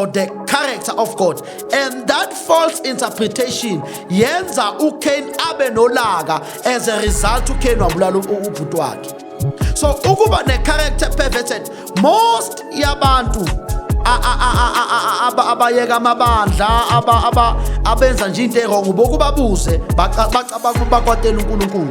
the character of God and that false interpretation yenza uCain abe nolaka as a result uCain wabulala ubhuti wakhe so ukuba ne character perverted most yabantu abayeka amabandla abenza nje into erong bokubabuze bacabanga bakwatela uNkulunkulu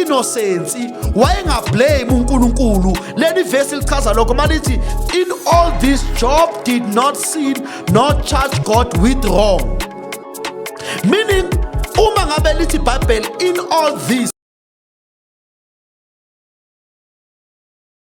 inosensi wayengablame uNkulunkulu leli verse lichaza lokho malithi in all this job did not sin not charge God with wrong meaning uma ngabe lithi bible in all this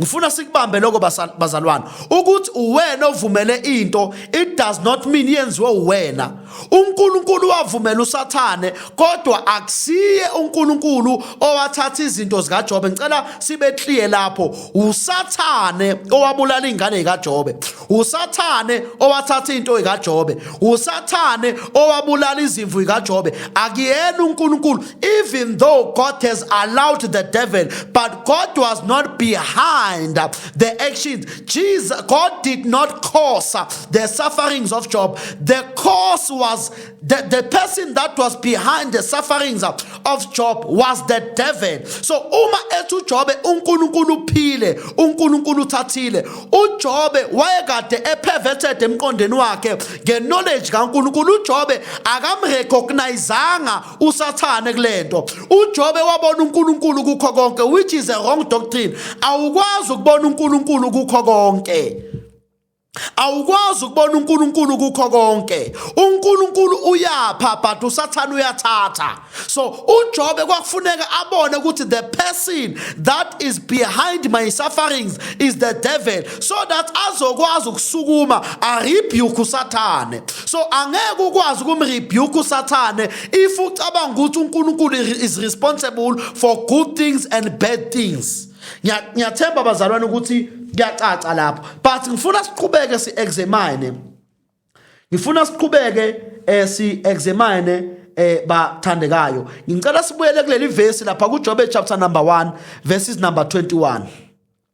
ngifuna sikubambe lokho bazalwane ukuthi uwena ovumele into it does not mean yenziwe uwena uNkulunkulu wavumela usathane kodwa akusiye uNkulunkulu owathatha izinto zikaJobe ngicela sibe clear lapho usathane owabulala ingane kaJobe usathane owathatha into kaJobe usathane owabulala izimvu kaJobe akuyena uNkulunkulu even though God has allowed the devil, but God was not behind the actions. Jesus, God did not cause the sufferings of Job. The cause was the, the person that was behind the sufferings of Job was the devil. So uma ethi uJobe uNkulunkulu uphile, uNkulunkulu uthathile. UJobe wayekade eperverted emqondweni wakhe ngeknowledge kaNkulunkulu. UJobe akamrecognizanga usathane kulento uJobe wabona uNkulunkulu kukho konke which is a wrong doctrine awukwazi ukubona uNkulunkulu kukho konke awukwazi ukubona uNkulunkulu kukho konke uNkulunkulu uyapha but usathane uyathatha so uJobe kwakufuneka abone ukuthi the person that is behind my sufferings is the devil so that azokwazi ukusukuma arebuke usathane so angeke ukwazi ukumrebuke usathane if ucabanga ukuthi unkulunkulu is responsible for good things and bad things ngiyathemba bazalwane ukuthi kuyacaca lapho but ngifuna siqhubeke si-examine ngifuna siqhubeke um eh, si-examine eh bathandekayo ngicela sibuyele kuleli verse lapha kuJobe chapter number 1 verses number 21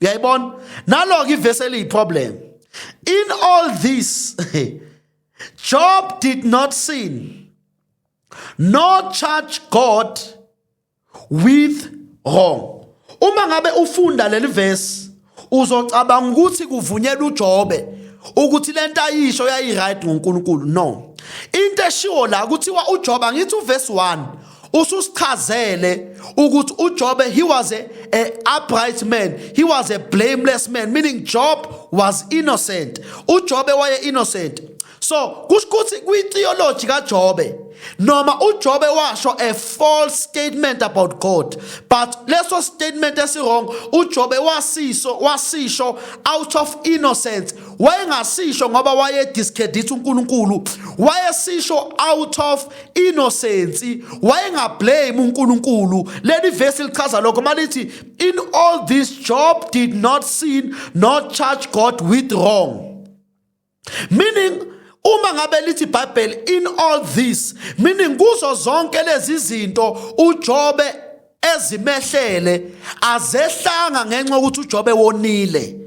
uyayibona nalo ke ivesi eliyiproblem in all this job did not sin nor charge god with wrong uma ngabe ufunda leli verse uzocabanga ukuthi kuvunyelwa uJobe ukuthi lento ayisho yayiright ngoNkulunkulu no into eshiwo la kuthiwa uJobe angithi uverse 1 ususichazele ukuthi uJobe he was a, a upright man he was a blameless man meaning Job was innocent uJobe waye innocent so kusho ukuthi kwitheology kaJobe noma uJobe washo a false statement about God but leso statement esiwrong uJobe wasiso wasisho out of innocence wayengasisho ngoba waye discredit uNkulunkulu wayesisho out of inosensi wayengablame uNkulunkulu leli verse lichaza lokho malithi in all this job did not sin not charge God with wrong meaning uma ngabe lithi bible in all this meaning kuzo zonke lezi zinto uJobe ezimehlele azehlanga ngenxa ukuthi uJobe wonile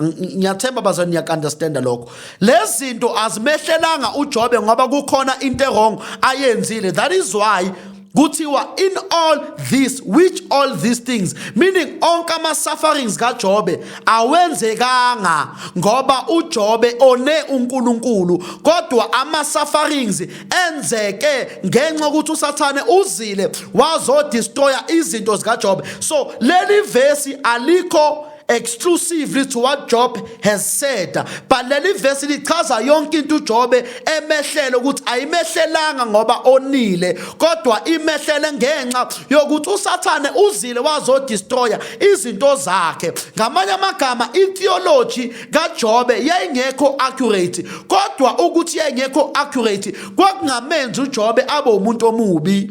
ngiyathemba bazani niyakunderstanda lokho lezinto azimehlelanga uJobe ngoba kukhona into ewrong ayenzile that is why kuthiwa in all this which all these things meaning onke ama sufferings kaJobe awenzekanga ngoba uJobe one uNkulunkulu kodwa ama sufferings enzeke ngenxa ukuthi uSathane uzile wazo destroyer izinto zikaJobe so leli verse alikho exclusively to what Job has said but leli verse lichaza yonke into uJobe emehlele ukuthi ayimehlelanga ngoba onile kodwa imehlele ngenxa yokuthi uSathane uzile wazodestroya izinto zakhe ngamanye amagama itheology kaJobe yayingekho accurate kodwa ukuthi yayingekho accurate kwakungamenzi uJobe abe umuntu omubi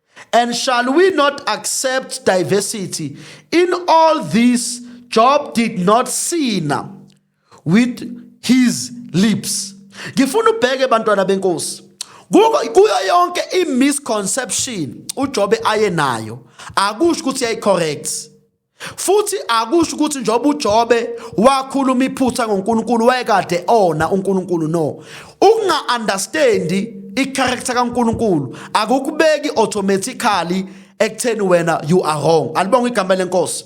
And shall we not accept diversity? In all this, Job did not sin with his lips. Ngifuna ubheke bantwana benkosi. Kuyo yonke i-misconception uJobe aye nayo akusho ukuthi yayi-correct. futhi akusho ukuthi njengoba uJobe wakhuluma iphutha ngoNkulunkulu wayekade ona uNkulunkulu no ukunga understand icharacter kaNkulunkulu akukubeki automatically ekutheni wena you are wrong alibonga igama lenkosi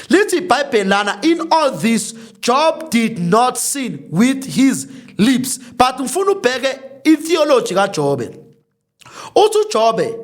lithi ibhayibheli lana in all this job did not sin with his lips but ngifuna ubheke itheology kajobe uthi ujobe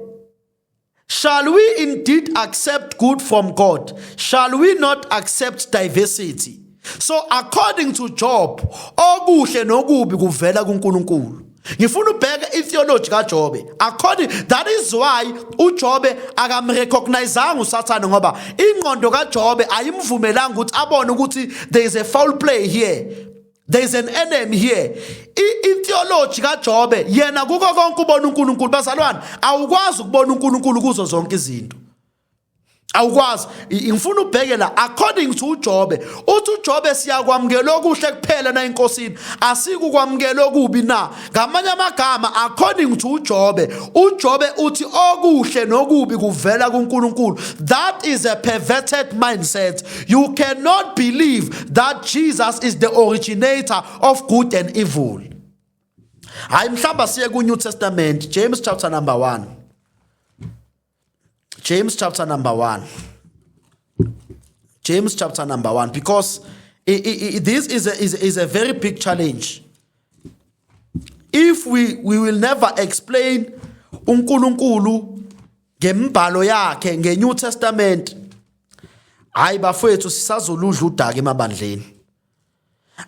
Shall we indeed accept good from God? Shall we not accept diversity? So according to Job, okuhle nokubi kuvela kuNkulunkulu. Ngifuna ubheke itheology kaJobe. According that is why uJobe akamrecognizanga uSathane ngoba ingqondo kaJobe ayimvumelanga ukuthi abone ukuthi there is a foul play here. there is an enemy here itheology kaJobe yena kuko konke ubona uNkulunkulu bazalwane awukwazi ukubona uNkulunkulu kuzo zonke izinto awukwazi ngifuna ubheke la according to uJobe uthi uJobe siyakwamukela okuhle kuphela na inkosini asikukwamukela okubi na ngamanye amagama according to uJobe uJobe uthi okuhle nokubi kuvela kuNkulunkulu that is a perverted mindset you cannot believe that Jesus is the originator of good and evil hayi mhlamba siye ku New Testament James chapter number 1 James chapter number 1. James chapter number 1 because it, it, it, this is a, is, is a very big challenge. If we, we will never explain uNkulunkulu ngembhalo yakhe ngeNew Testament hayi bafowethu sisazoludla udaka emabandleni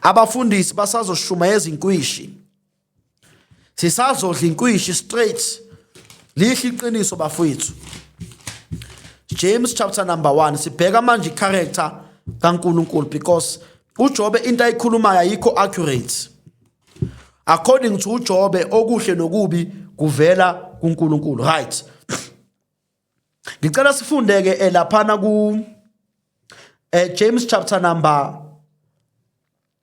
abafundisi basazoshumayeza inkwishi sisazodla inkwishi straight lihle iqiniso bafowethu James chapter number 1 sibheka manje icharacter kaNkuluNkulu because uJobe into ayikhulumayo ayikho accurate according to uJobe okuhle nokubi kuvela kuNkulunkulu right ngicela sifunde ke eh, laphana ku eh, James chapter number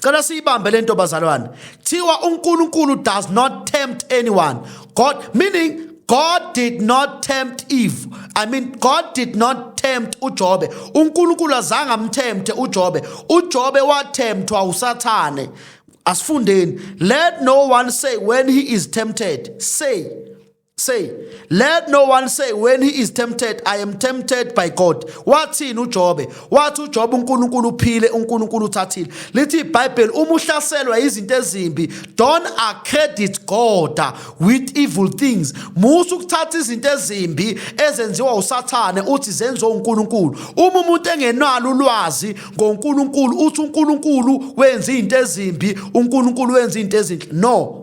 Cela siyibambe lento bazalwane. Thiwa uNkulunkulu does not tempt anyone. God meaning God did not tempt Eve. I mean God did not tempt uJobe. UNkulunkulu azange amthemte uJobe. UJobe wathemtwa uSathane. Asifundeni. Let no one say when he is tempted. Say say let no one say when he is tempted i am tempted by god wathini ujobe wathi ujobe unkulunkulu uphile unkulunkulu uthathile lithi ibhayibheli uma uhlaselwa izinto ezimbi don't accredit god with evil things musa ukuthatha izinto ezimbi ezenziwa usathane uthi zenziwa unkulunkulu uma umuntu engenalo ulwazi ngonkulunkulu uthi unkulunkulu wenza izinto ezimbi unkulunkulu wenza izinto ezinhle no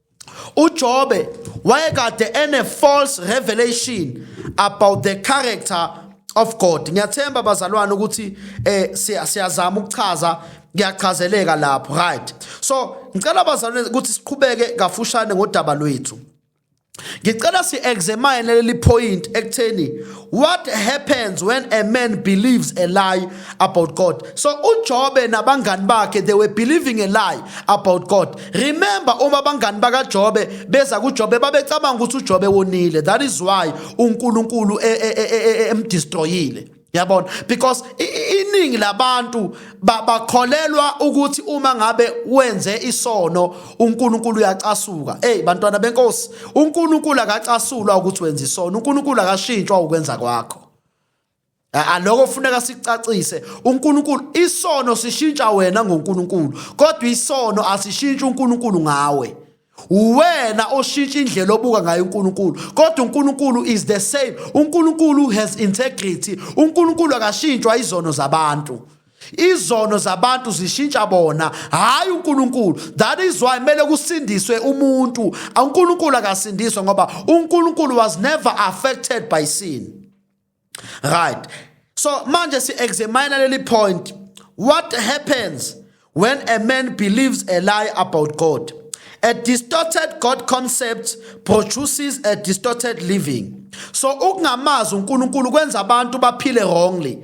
uJobe wayekade ene false revelation about the character of God ngiyathemba bazalwane ukuthi eh siyazama ukuchaza ngiyachazeleka lapho right so ngicela bazalwane ukuthi siqhubeke kafushane ngodaba lwethu ngicela si examine leli point ekutheni What happens when a man believes a lie about God? So uJobe nabangani bakhe they were believing a lie about God. Remember uma abangani bakaJobe beza kuJobe babecabanga ukuthi uJobe wonile. That is why uNkulunkulu e, e, e, emdestroyile. Yabona because iningi labantu bakholelwa ukuthi uma ngabe wenze isono uNkulunkulu uyacasuka hey bantwana benkosi uNkulunkulu akacasulwa ukuthi wenza isono uNkulunkulu akashintshwa ukwenza kwakho aloko funeka sicacise uNkulunkulu isono sishintsha wena ngoNkulunkulu kodwa isono asishintsha uNkulunkulu ngawe uwena oshintsha indlela obuka ngayo uNkulunkulu kodwa uNkulunkulu is the same uNkulunkulu has integrity uNkulunkulu akashintshwa izono zabantu izono zabantu zishintsha bona hayi uNkulunkulu that is why mele kusindiswe umuntu uNkulunkulu akasindiswe ngoba uNkulunkulu was never affected by sin right so manje si examine leli point what happens when a man believes a lie about God a distorted God concept produces a distorted living so ukungamazi uNkulunkulu kwenza abantu baphile wrongly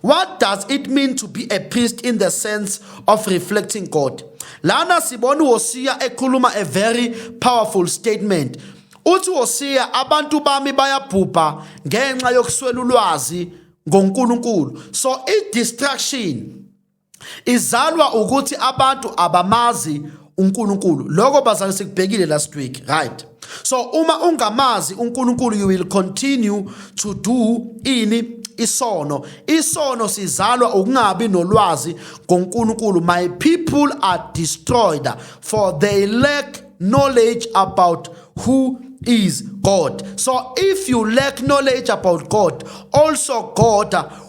What does it mean to be a priest in the sense of reflecting God? Lana sibona uHosiya ekhuluma a very powerful statement. Uthi uHosiya abantu bami bayabhubha ngenxa yokuswela ulwazi ngoNkulunkulu. So i distraction izalwa ukuthi abantu abamazi uNkulunkulu lokho bazali sikubhekile last week right so uma ungamazi uNkulunkulu you will continue to do ini isono isono sizalwa ukungabi nolwazi ngoNkulunkulu my people are destroyed for they lack knowledge about who is God. So if you lack knowledge about God, also God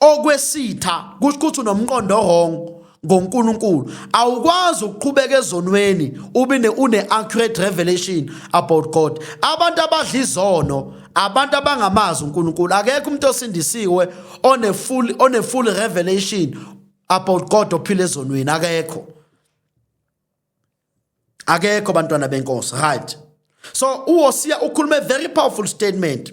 okwesitha kusho ukuthi unomqondo wrong ngoNkulunkulu awukwazi ukuqhubeka ezonweni ube ne une accurate revelation about God abantu abadla izono abantu abangamazi uNkulunkulu akekho umuntu osindisiwe one full one full revelation about God ophila ezonweni akekho akekho bantwana benkosi right so uHosiya ukhulume very powerful statement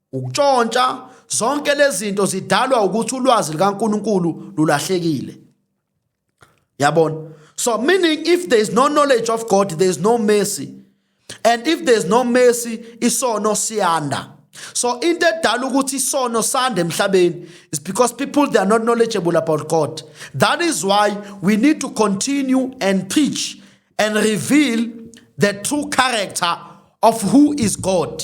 ukutshontsha zonke lezi zinto zidalwa ukuthi ulwazi likaNkuluNkulu lulahlekile yabona so meaning if there is no knowledge of God there is no mercy and if there is no mercy isono siyanda so into edala ukuthi isono sande emhlabeni is because people they are not knowledgeable about God that is why we need to continue and preach and reveal the true character of who is God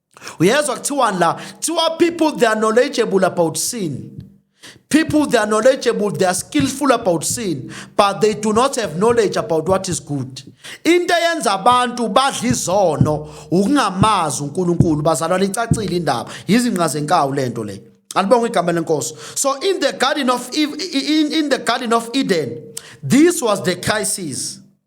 uyezwa kuthiwani la kuthiwa people they are knowledgeable about sin people they are knowledgeable they are skillful about sin but they do not have knowledge about what is good into eyenza abantu badla izono ukungamazi uNkulunkulu bazalwana icacile indaba yizinqa zenkawu lento le alibonga igama lenkosi so in the garden of in, in the garden of Eden this was the crisis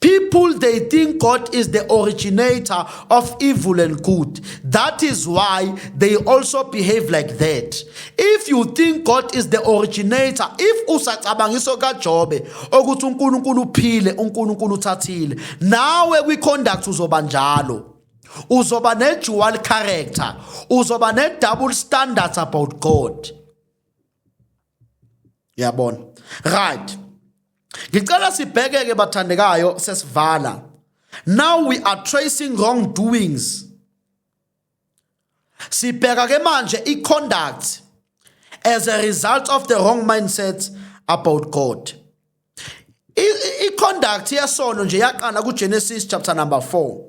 People they think God is the originator of evil and good. That is why they also behave like that. If you think God is the originator, if usacabangiso kaJobe ukuthi uNkulunkulu uphile, uNkulunkulu uthathile, nawe kwi conduct uzoba njalo. Uzoba ne dual character, uzoba ne double standards about God. Yabona. Right. ngicela sibhekeke bathandekayo sesivala now we are tracing wrong doings sibheka ke manje i-conduct as a result of the wrong mindset about god i-conduct yesono nje yaqala kugenesis chapter number 4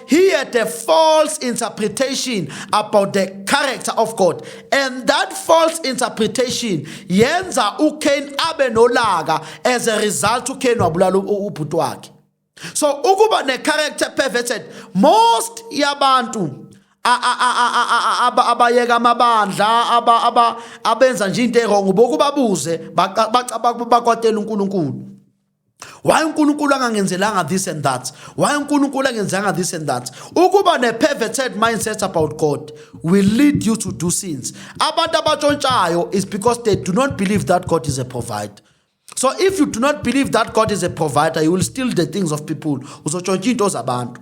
he had a false interpretation about the character of God and that false interpretation yenza uCain abe nolaka as a result uCain wabulala ubhuti wakhe so ukuba ne character perverted most yabantu abayeka amabandla aba aba abenza nje into erong bokubabuze bakwatela uNkulunkulu why uNkulunkulu angangenzelanga this and that why uNkulunkulu angenzanga this and that ukuba ne perverted mindset about God will lead you to do sins abantu abatshontshayo is because they do not believe that God is a provider so if you do not believe that God is a provider you will steal the things of people uzotshontsha into zabantu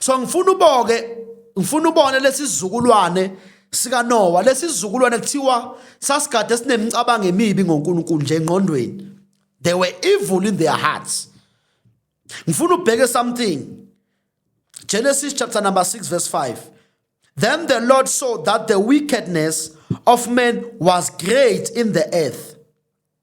so ngifuna uboke ngifuna ubone lesizukulwane sika Noah lesizukulwane kuthiwa sasigade esinemcabango emibi ngoNkulunkulu nje engqondweni they were evil in their hearts ngifuna ubheke something Genesis chapter number 6 verse 5 Then the Lord saw that the wickedness of men was great in the earth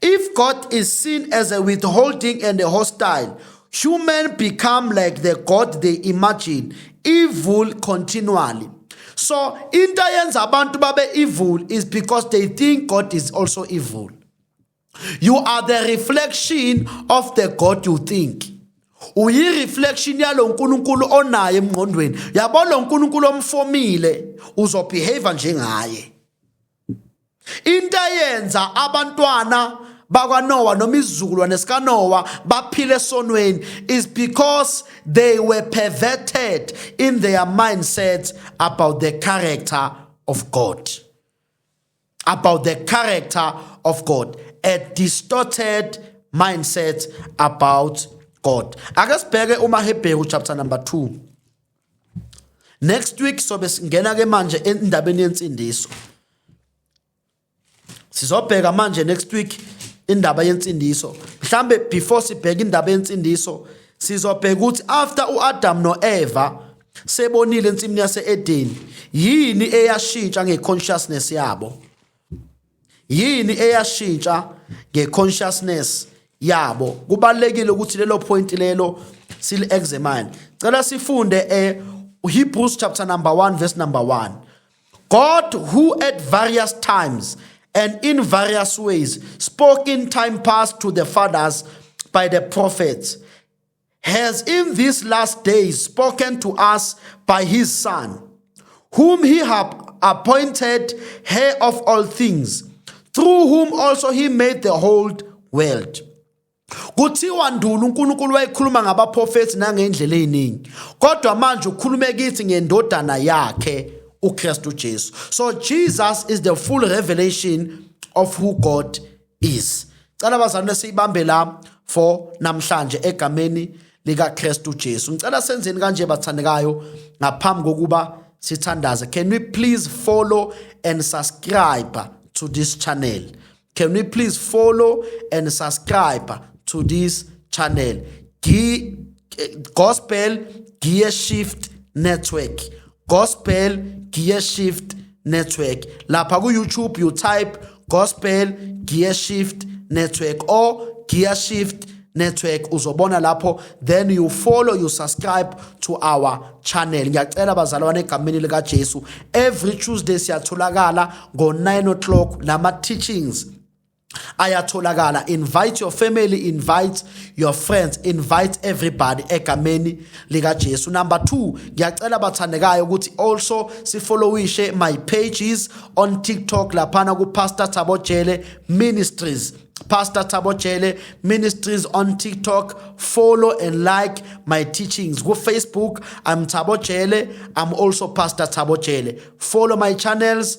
If God is seen as a withholding and a hostile, human become like the God they imagine, evil continually. So into eyenza abantu babe evil is because they think God is also evil. You are the reflection of the God you think. Uyi-reflection yalo nkulunkulu onaye emngqondweni yabo lo nkulunkulu omfomile uzobehave njengaye into eyenza abantwana bakwaNowa noma izizukulwane sikaNowa baphile esonweni is because they were perverted in their mindset about the character of God about the character of God a distorted mindset about God ake sibheke uMahebheru chapter number 2 next week sobe singena ke manje endabeni yensindiso sizobheka manje next week indaba yensindiso mhlambe before sibheka indaba yensindiso sizobheka ukuthi after uAdam noEva sebonile ensimini yaseEden yini eyashintsha ngeconsciousness yabo yini eyashintsha ngeconsciousness yabo kubalekile ukuthi lelo point lelo sili examine cela sifunde e Hebrews chapter number 1 verse number 1 God who at various times and in various ways spoke in time past to the fathers by the prophets has in these last days spoken to us by his Son, whom he hath appointed heir of all things, through whom also he made the whole world. kuthiwa nduna uNkulunkulu wayekhuluma ngabaprofethi nangendlela eziningi kodwa manje ukhulume kithi ngendodana yakhe uKristu Jesu so Jesus is the full revelation of who God is cela bazalwane siyibambe la for namhlanje egameni lika Kristu Jesu ngicela senzeni kanje bathandekayo ngaphambi kokuba sithandaze can we please follow and subscribe to this channel can we please follow and subscribe to this channel G eh, gospel gear shift network Gospel Gear Shift Network. Lapha ku YouTube you type Gospel Gear Shift Network or Gear Shift network uzobona lapho then you follow you subscribe to our channel ngiyacela bazalwane egameni lika Jesu every Tuesday siyatholakala ngo 9 o'clock nama teachings ayatholakala invite your family invite your friends invite everybody egameni lika Jesu number 2 ngiyacela bathandekayo ukuthi also sifollowishe my pages on TikTok laphana ku Pastor Thabo Jele Ministries Pastor Thabo Jele Ministries on TikTok. Follow and like my teachings. Go Facebook, I'm Thabo Jele. I'm also Pastor Thabo Jele. Follow my channels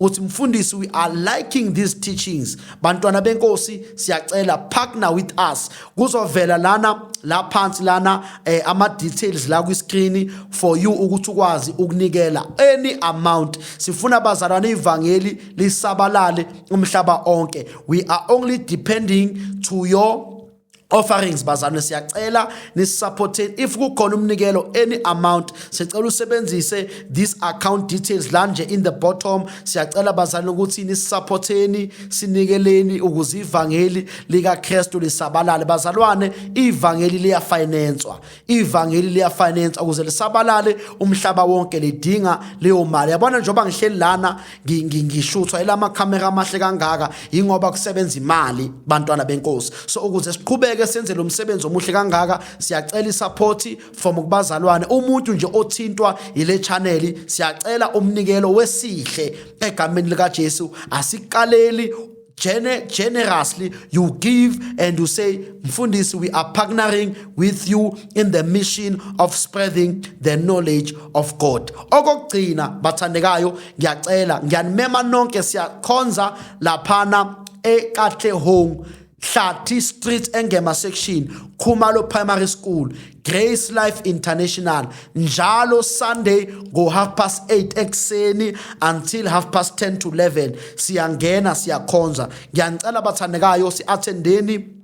uthi mfundisi we are liking these teachings bantwana benkosi siyacela partner with us kuzovela lana la phansi lana eh, ama details la kwi screen for you ukuthi ukwazi ukunikela any amount sifuna abazalwane ivangeli lisabalale umhlaba onke we are only depending to your offerings bazalwane siyacela nisupporteni if kukhona umnikelo any amount sicela usebenzise this account details la nje in the bottom siyacela bazalwane ukuthi nisupporteni sinikeleni ukuze ivangeli likaKristu lisabalale bazalwane ivangeli liyafinancewa ivangeli liyafinance ukuze lisabalale umhlaba wonke lidinga leyo mali yabona njengoba ngihleli lana ngishuthwa elama camera amahle kangaka ingoba kusebenza imali bantwana benkosi so ukuze siqhubeke senze lo msebenzi omuhle kangaka siyacela isupport from kubazalwane umuntu nje othintwa ile channel siyacela umnikelo wesihle egameni lika Jesu asikaleli Gene generously you give and you say mfundisi we are partnering with you in the mission of spreading the knowledge of God okugcina bathandekayo ngiyacela ngiyanimema nonke siyakhonza laphana eKatlehong Hlathi Street engema section Khumalo Primary School Grace Life International njalo Sunday ngo half past 8 ekseni until half past 10 to 11 siyangena siyakhonza ngiyanicela bathandekayo siathendeni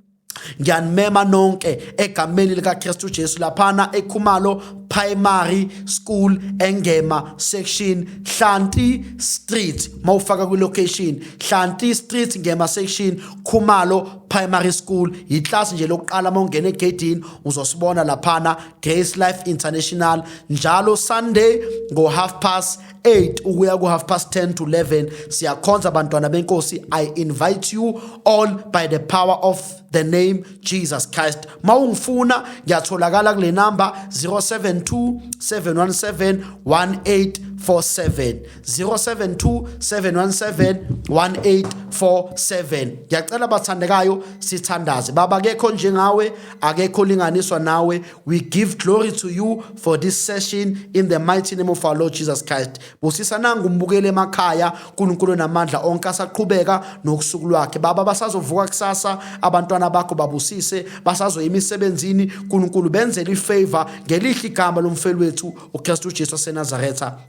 ngiyanimema nonke egameni likaKristu Jesu laphana eKhumalo Primary School Engema Section Hlanti Street mawufaka kwi location Hlanti Street Ngema Section Khumalo primary school yiklasi nje lokuqala uma ungena egedini uzosibona laphana grace life international njalo sunday ngo-half past 8 ukuya ku-half past 10 to 11 siyakhonza abantwana benkosi i invite you all by the power of the name jesus christ ma ungifuna ngiyatholakala kule namba 072 717 1847 072 717 1847 ngiyacela bathandekayo sithandaze baba akekho njengawe akekho linganiswa nawe we give glory to you for this session in the mighty name of our lord jesus christ busisa nangu umbukele emakhaya unkulunkulu namandla onke asaqhubeka nokusuku lwakhe baba basazovuka kusasa abantwana bakho babusise basazoya emisebenzini unkulunkulu benzele ifavor ngelihle igama lomfeli wethu ukristu jesu wasenazaretha